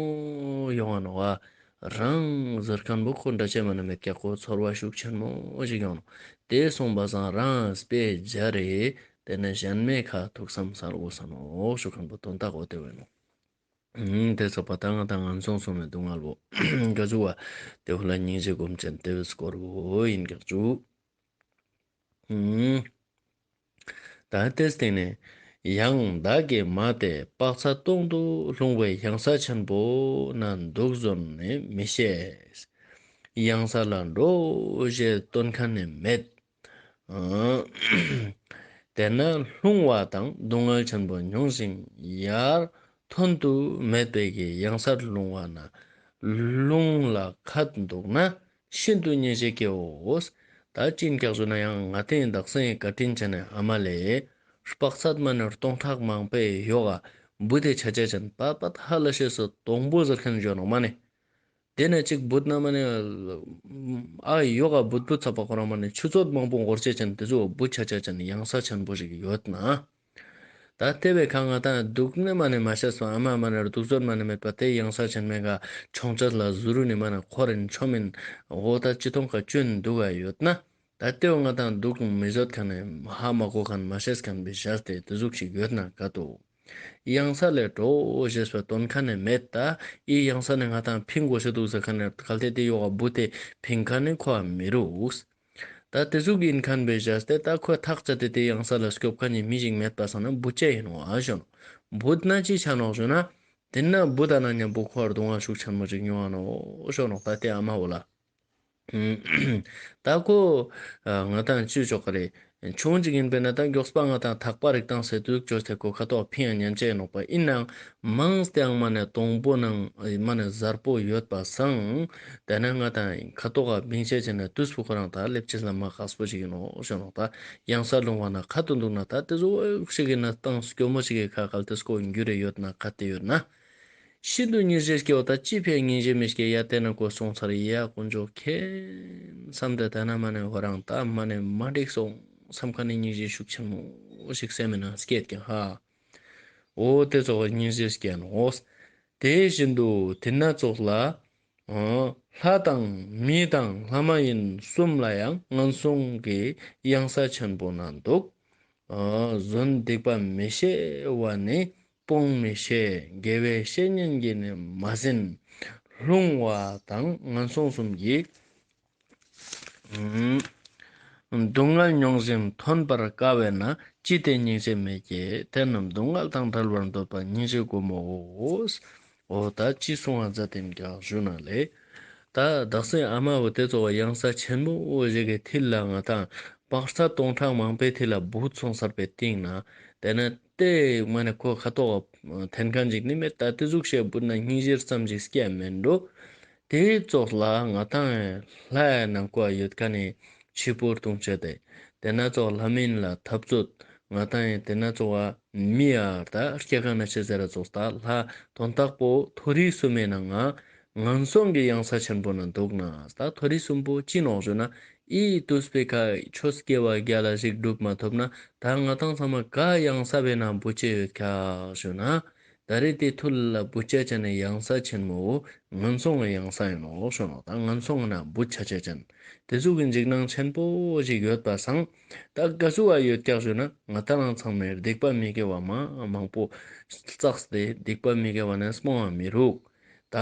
ཡོང་བ་ནོར་བ་རང་གཟིར་སྐམ་པོ་ཁོ་འདྲ་ཆད་མ་ན་མེ་བཀྱག་ཁོ་ཚོར་བ་ཤུགས་ཆེན་མོ་ཞིག་ཡོང་ནོ་དེ་སོང་པ་སང་རང་པས་སྦྱར་རེ་དེ་ནས་གཞན་མེད་ཁ་ཐུག་སམ་སར་འོ་ས་ནོ་ཤུགས་སྐམ་པོ་དོན་དག་འོ་དེ་བས་ནོ། དེ་སོགས་པ་དང་ང་དང་ངན་སོང་གསུམ་མེད་སྡུག་བསྔལ་བུ་འགའ་བཅུག་བ་དེ་བུ་ལ་སྙིང་རྗེ་སྒོམ་ཅན་དེ་བས་སྐོར་བུ་ཡིན་དགག་བཅུག། བདག་ལྟའི་སྟེང་ནས་ཡང་བདག་གི་མ་དེ་དཔག་ཚ་སྟོང་དུ་ལྷུང་བའི་གཡང་ས་ཆེན་པོ་ན་འདུག་བཟོ་ནི་མི་ཤེས། གཡང་ས་ལ་འགྲོ་ཞེས་སྟོན་མཁན་ནི་མེད། དེ་ན་ལྷུང་བ་དང་སྡུག་བསྔལ་ཆེན་པོ་མྱོང་ཞིང་ཡར་ཐོན་དུ་མེད་པའི་གཡང་སར་ལྷུང་བ་ན་ལྷུང་ལ་ཁ་འདུག་ན་ཤིན་ཏུ་མཉེས་བྱེད་ཀྱིའོ། བདག་ཅི་འགགས་བརྗོད་ན་ཡང་ང་སྟེ་བདག་སེང་གེ་བཀའ་དྲིན་ཅན་ནི་ཨ་མ་ལས། སྤགས་ཚད་མ་ནོར་སྟོང་ཕྲག་མང་པས་གཡོག། ཨ་བུ་དེ་བྱ་བྱེད་ཅན་པཱ་པ་ད་ཧ་ལ་ཤེས་སུ་དོང་པོ་ཟེར་མཁན་གཞོན་ནུ་མ་ནི། དེ་ནས་གཅིག་བུ་ན་མ་ནི། ཨ་གཡོག་ཨ་བུ་བུ་ཚ་པ་ཁོ་རང་མ་ནི་ཆུ་ཚོད་མང་པོ་འགོར་བྱེད་ཅན་དེ་ཚོས་ཨ་བུ་བྱ་བྱེད་ཅན་ཡང་ས་ཆེན་པོ་ཞིག་ཡོད་ན། ད་ལྟའི་བའི་ཁ་ང་ད་སྡུག་སྣེ་མ་ནས་མ་ཤར་སོང་ཨ་མ་མ་ནར་སྡུག་ཟོར་མ་ནས་མེད་པ་དེ་གཡང་ས་ཆེན་མེ་ག་ཆོང་ཆ་ལ་ཟུ་རུ་ནི་མ་ན་ཁོ་རེ་མཆོག་མིན་འོ་ད་ཅི་ཐོང་ག་བཅོས་ནི་འདུག་ག་ཡོད་ན་ད་ལྟའི་བ་ང་ད་སྡུག་མི་བཟོད་ག་ནས་ཧ་མ་གོ་ག་ནས་མ་ཤེས་ག་ནས་བི་ཤར་དེ་དེ་ཟུག་ཞིག་ཡོད་ན་ག་ཏོ་གཡང་ས་ལས་འགྲོ་འོ་ཞེས་བ་དོན་ག་ནས་མེད་ད་ཨི་གཡང་ས་ནས་ང་ད་ཕིང་གོ་ཤི་འདུག་ཟེར་ག་ནས་ག་ལྟའི་དེ་ཡོ་ག་འབུ་དེ་ཕིང་ག་ནི་ཁོ་བ་མི་རུགས། ད་དེ་གཟུགས་ཀྱི་ཡིན་ཁན་པའི་གཞས་སྟེ་ད་ཁོས་ཐག་བཅད་དེ་དེ་གཡང་ས་ལ་སྐྱོབ་ཁ་ཉིན་མི་ཞིག་མེད་པ་ས་ན་འབུ་སྐྱེ་ཡིན་བ་ཞོན་འབུ་ན་ཅི་ཆ་ནོག་ཞོན་ན་དེ་ན་འབུ་ད་ན་ཉམས་པོ་ཁོ་བར་དུ་ང་ཤུགས་ཆེན་མོ་ཅིག་ཉོ་བ་ནོག་ཞོ་ནོག་ད་དེ་ཨ་མ་བོ་ལ་ད་ཁོ་ང་དང་གཅུས་ཆོག་ག་རེད་ཆུང་ཅིག་ཡིན་པའི་གནས་སྟངས་མགྱོགས་སུ་སྤང་བ་དང་ཐག་པ་རིག་སྟངས་ཟད་དུས་ཁྱོད་ཐེ་གོ་ཁ་དོག་ཕིང་ཡང་ཉམས་ཆད་ནོག་པ་ཨིན་ནའང་མང་སྟེ་ཨང་མ་ནས་སྟོང་པོ་ནང་མ་ནས་གཟར་པོ་ཡོད་པ་བཟང། དེ་ནས་ང་དང་ཁ་དོག་ག་བིང་ཤད་བྱས་ནས་དུས་སུ་ཁོ་རང་ད་སླེབས་ཆེ་ས་མ་ཁགས་པོ་ཞིག་ཡིན་ནོ་ཞེས་ནོག་ད་གཡང་སར་ལྷུང་བ་ན་ཁ་དོག་འདུག་ན་ད་དེ་སུ་འོད་ཤིག་གི་གནས་སྟངས་སུ་སྐྱོ་མོ་ཞིག་གི་ཁ་གལ་ཏེ་སུ་ཁོ་འགྱུར་རེ་ཡོད་ན་ཁ་ཏེ་ཡོད་ན། ཤིན་ཏུ་ཉིན་བཞིར་སྐྱེ་བ་དང་ཅི་ཕན་ཉིན་བཞིར་མི་སྐྱེ་ཡ་བལྟས་ན་དགོས་གསུངས་ཚར་ཡེ་ཡག་དཀོན་མཆོག་མཁྱེན་བསམ་དེ་ལྟ་ན་མ་ནི་བོད་རང་ལྟ་མ་ནི་མ་འགྲིག་སོང་བསམ་ཁ་ནི་ཉིན་བཞིར་ཤུགས་ཆེན་མོ་ཞིག་བསད་མི་ན་སྐད་ཀྱང་ཧ་འོ་དེ་ཚོགས་ལ་ཉིན་བཞིར་སྐྱེ་ནོ་དེ་བཞིན་དུ་དེ་ན་ཚོགས་ལ་ལྷ་དང་མི་དང་ལྷ་མ་ཡིན་གསུམ་ལ་ཡང་ངན་སོང་གི་གཡང་ས་ཆེན་པོ་ན་འདུག་བཟོན་སྡིག་པ་མི་ཤེས་བ་ནི་སྤོང་མི་ཤེས་དགེ་བའི་བཤེས་གཉེན་གྱིས་ནི་མ་ཟིན། ལྷུང་བ་དང་ངན་སོང་གསུམ་གྱིས། སྡུག་བསྔལ་མྱོང་ཟིན་ཐོན་པར་དཀའ་བས་ན་ཅི་སྟེ་སྙིང་རྗེ་མེད་ཀྱི་དེ་རྣམས་སྡུག་བསྔལ་དང་བྲལ་བར་འདོད་པ་སྙིང་རྗེའི་སྒོ་མོའོ། འོ་ད་ཅི་གསུང་བ་རྫ་དེམ་རྒྱག་བཞུགས་ན་ལེགས། ད་བདག་སེམས་ཨ་མ་བུ་དེ་ཚོ་བ་གཡང་ས་ཆེན་མོ་ཞིག་གི་མཐིལ་ལ་ང་ཐང་དཔག་རྩ་སྟོང་ཕྲག་མང་པའི་མཐིལ་ལ་སྦུག་ཚོང་གསར་པའི་སྟེང་ན་བསྡད་ན་ལྟས་ངན་ནས་ཁོ་ཁ་དོག་བ་འཐེན་གང་ཅིག་ནི་མེད་ད་དེ་གཟུགས་བྱད་སྦུར་ན་སྙིང་གཞེར་ཙམ་ཅིག་སྐྱེ་ཡ་མེད་འགྲོ། དེའི་ཙོག་ལ་ང་དང་ལྷའི་ནང་བཀའ་ཡོད་ཀ་ནས་ཕྱི་བོར་ལྟུང་བྱེད་དེ། དེ་ན་ཙོག་ལྷ་མིན་ལ་འཐབ་རྩོད། ང་དང་དེ་ན་ཙོག་བ་མི་ཡ་ད་སྐྱེ་གང་ན་ཆེ་ཟེར་ར་ཙོག་ལྟ་ལྷ་དོན་རྟག་པོ་མཐོ་རིས་སུ་མེད་ན་ང་ངན་སོང་གི་གཡང་ས་ཆེན་པོ་ན་འདུག་ན་ད་མཐོ་རིས་གསུམ་པོ་ཅི་ནོག་བྱོས་ན་ཨི་ཏུས་པི་ཁ་ཁྱོད་སྐྱེ་བ་བརྒྱ་ལ་གཞིག་སྒྲུབ་མ་ཐུབ་ན་ད་ང་དང་ཚང་མ་ག་གཡང་ས་བེ་ན་འབུ་སྐྱེ་ཡོད་ཁ་བྱོས་ན། ད་རེས་དེ་ཐུ་ལི་ལ་བུ་ཅཱ་ཅན་ནི་གཡང་ས་ཆེན་མོའོ། ངན་སོང་གི་གཡང་ས་ཡིན་ནོ་ཞེས་ཞུ་ནོ་ད་ངན་སོང་གི་ན་བུ་ཅཱ་ཅན་ཅན་དེ་གཟུགས་ཀྱི་འཇིགས་སྣང་ཆེན་པོ་ཞིག་ཡོད་པ་སང་ད་ག་གཟུགས་བ་ཡོད་ཀྱག་ཞུ་ན་ང་ད་རང་ཚང་མེར་སྡིག་པ་མི་དགེ་བ་མང་མང་པོ་བསགས་ཏེ་སྡིག་པ་མི་དགེ་བ་ནས་སྨོང་བ་མི་རུག་ད་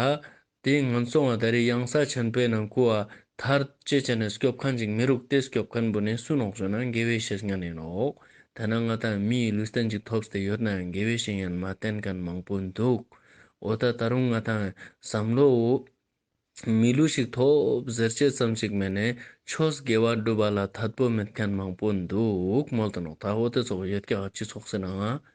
དེ་ཡིན་ངམ་སོང་བ་ད་རེས་གཡང་ས་ཆེན་པོའི་ནང་སྐུ་བ་དར་ཅེ་བྱས་ནས་སྐྱོབ་མཁན་ཅིག་མི་རུག་སྟེ་སྐྱོབ་མཁན་འབུ་ནས་སུན་ལོག་བྱོས་ན་འགལ་བའི་བཤད་ཉན་ཡིན་ལོག་ཐ་ན་ང་ད་མི་ཡི་ལུས་རྟེན་ཅིག་ཐོབ་སྟེ་ཡོད་ན་ཡང་འགལ་བའི་བཤད་ཉན་མ་བསྟན་མཁན་མང་པོ་འདུག་འོ་ད་ད་རུང་ང་ད་བསམ་བློ་འོ། མི་ལུས་ཤིག་ཐོབ་ཟེར་བྱེད་ཙམ་ཅིག་མེད་ནས་ཆོས་དགེ་བ་སྒྲུབ་པ་ལ་དད་པོ་མེད་མཁན་མང་པོ་འདུག་མོལ་དུ་ནོག་ད་འོ་དེ་ཚོ་ཡོད་ཀྱང་སྤྱི་ཚོགས་སེར་ནང་ང་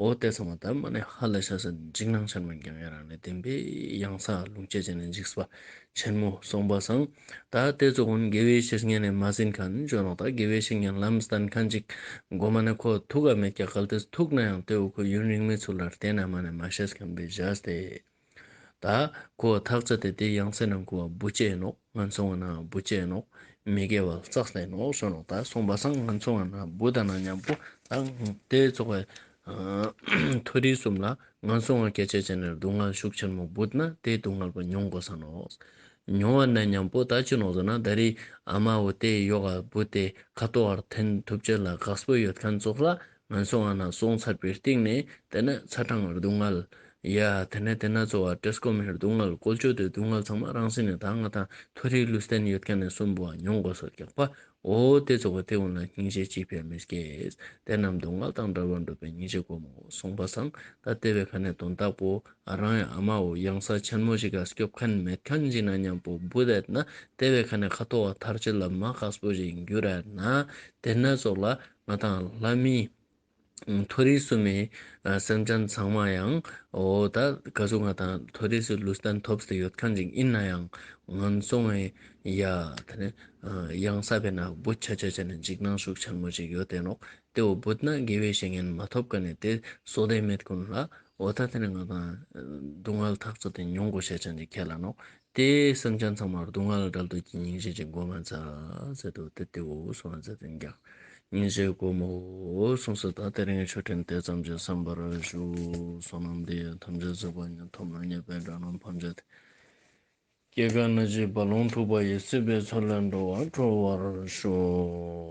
འོ་དེ་ཚང་མ་དར་མ་ནས་ཧ་ལས་ཤ་ཟ་འཇིགས་སྣང་ཆེན་མོ་རྒྱང་ཡེ་རང་ལས་བསྟན་པའི་གཡང་ས་ལུང་སྐྱེས་ཅན་ལས་འཇིགས་པ་ཆེན་མོ་གསུངས་པ་བཟང། ད་ལྟའི་རྫོགས་སྔོན་དགེ་བའི་བཤེས་གཉེན་ནས་མ་ཟིན་ཁ་ནི་འཇོག་རོགས་ད་དགེ་བའི་བཤེས་གཉེན་ལམ་སྟན་ཁ་འཇིགས་མགོ་མ་ནས་ཁོ་ཐུགས་ཨ་མས་སྐྱག་ག་ལ་དེ་ཐུགས་ན་ཡང་དེ་འུ་ཁོ་ཡུན་རིང་མའི་ཚུལ་ལ་རྟེན་ཨ་མ་ནས་མ་བཤད་མཁན་པའི་བཞག་སྟེ། ད་ཀོ་བ་ཐག་ཚ་དེ་དེ་ཡང་སེ་ན་ཀོ་བ་སྦུ་ཅན་ནོ་ང་ཚོ་བ་ན་སྦུ་ཅན་ནོ་མི་དགེ་བ་ཙག་སེ་ནོ་སོན་ནོ་ད་སོང་བ་སང་ང་ཚོ་བ་ན་སྦུ་ད་ན་མཉམ་པོ་ད་དེ་ཚོ་བའི་མཐོ་རིས་གསུམ་ལ་ང་ཚོ་བ་སྐད་ཆ་བྱེད་ནས་སྡུག་བསྔལ་ཤུགས་ཆེན་མོ་འབུད་ན་དེ་སྡུག་བསྔལ་བ་མྱོང་དགོས་ས་ནོ་མྱོང་བ་ན་མཉམ་པོ་ད་ཅི་ནོ་ཟེར་ན་ད་རིའི་ཨ་མ་བ་དེ་ཡོ་ག་སྦུ་དེ་ཁ་ཏོ་བར་འཐེན་ཐུབ་ཆེད་ལ་གགས་སྦུ་ཡོད་མཁན་ཚོགས་ལ་ང་ཚོ་ང་ན་སོང་ཚར་པའི་སྟེང་ནས་དེ་ནི་ཚ་གྲང་སྡུག་བསྔལ། ཡ། དེ་ནས་དེ་ན་ཚོ་བ་ཏྲེ་སྐོམ་ཧེར་སྡུག་བསྔལ་བཀོལ་སྤྱོད་དེ་སྡུག་བསྔལ་ཚང་མ་རང་སེམས་ནས་ད་ང་དང་མཐོ་རིས་ལུས་རྟེན་ཡོད་མཁན་ནས་གསུམ་པོ་བ་མྱོང་དགོས་སོ་རྒྱག་པ་འོ་དེ་ཚོ་བ་དེ་འོ་ན་སྙིང་རྗེ་ཅིས་ཕན་མི་སྐྱེས། དེ་རྣམས་སྡུག་བསྔལ་དང་འདྲ་བར་འགྲུབ་པའི་སྙིང་རྗེ་དགོས་མོ་གསུངས་པ་བཟང་ད་ལྟེ་བའི་ཁ་ནས་དོན་དག་པོ་ཨ་རང་ཡང་ཨ་མ་འོ་གཡང་ས་ཆེན་མོ་ཞིག་ག་སྐྱོབ་མཁན་མེད་མཁན་ཞིག་ན་སྙམ་པོ་འབུ་བསྡད་ན་ལྟེ་བའི་ཁ་ནས་ཁ་ཐོ་བ་ཐར་ཅི་ལབ་མ་ཁག་སྤོ་ཞིག་འགྱུར་ཨེ་ན་དེ་ནས་ཚོགས་ལ་ང་དང་ལྷ་མིའི་མཐོ་རིས་སུ་མའི་སེམས་ཅན་ཚང་མ་ཡང་འོ་ད་ག་ཚོད་ང་དང་མཐོ་རིས་སུ་ལུས་རྟེན་ཐོབ་ཟེར་ཡོད་མཁན་ཞིག་ཡིན་ན་ཡང་ང་ཚོ་ངའི་ཡ་ད་ནི་གཡང་ས་བས་ན་བུ་ཆ་ཆ་ཆ་ནི་འཇིགས་སྣང་ཤུགས་ཆེན་མོ་ཅིག་ཡོད་དེ་ནོག་ཏེ་འོ་བུད་ན་དགེ་བའི་བཤེས་གཉེན་མ་ཐོབ་ག་ནས་དེ་སོག་ལྡན་མེད་ཀུན་ལ་འོ་ད་ད་ནི་ང་དང་སྡུག་བསྔལ་ཐག་ཚོད་དེ་མྱོང་དགོས་བཤད་ཆ་འདི་ཁྱེད་ལ་ནོག་དེ་བསམ་ཀྱང་ཚང་མར་སྡུག་བསྔལ་ལ་དགྲ་བདུད་ཀྱི་སྙིང་རྗེ་ཅན་གོ་མ་མཛའ་ཟེར་དུ་སྟེ་དེའོ་གསུང་བ་མཛའ་དོན་ཀྱང་སྙིང་རྗེའི་སྒོ་མོའོ་གསུངས་སོ་ད་ལྟའི་རིང་ཆོས་ཕྲན་དེ་ཙམ་གྱིས་བསམ་པར་བཞུགས་སོ་ནམ་འདི་ཡང་ཐམས་ཅད་རྫོགས་པ་ཉིད་ཐོབ་ན་ཉེས་པའི་དགྲ་རྣམས་ཕམ་བྱ་སྟེ། སྐྱེ་རྒ་ན་འཆིའི་རྦ་ཀློང་འཁྲུགས་པ་ཡི་སྲིད་པའི་མཚོ་ལས་འགྲོ་བ་གྲོལ་བར་ཤོག།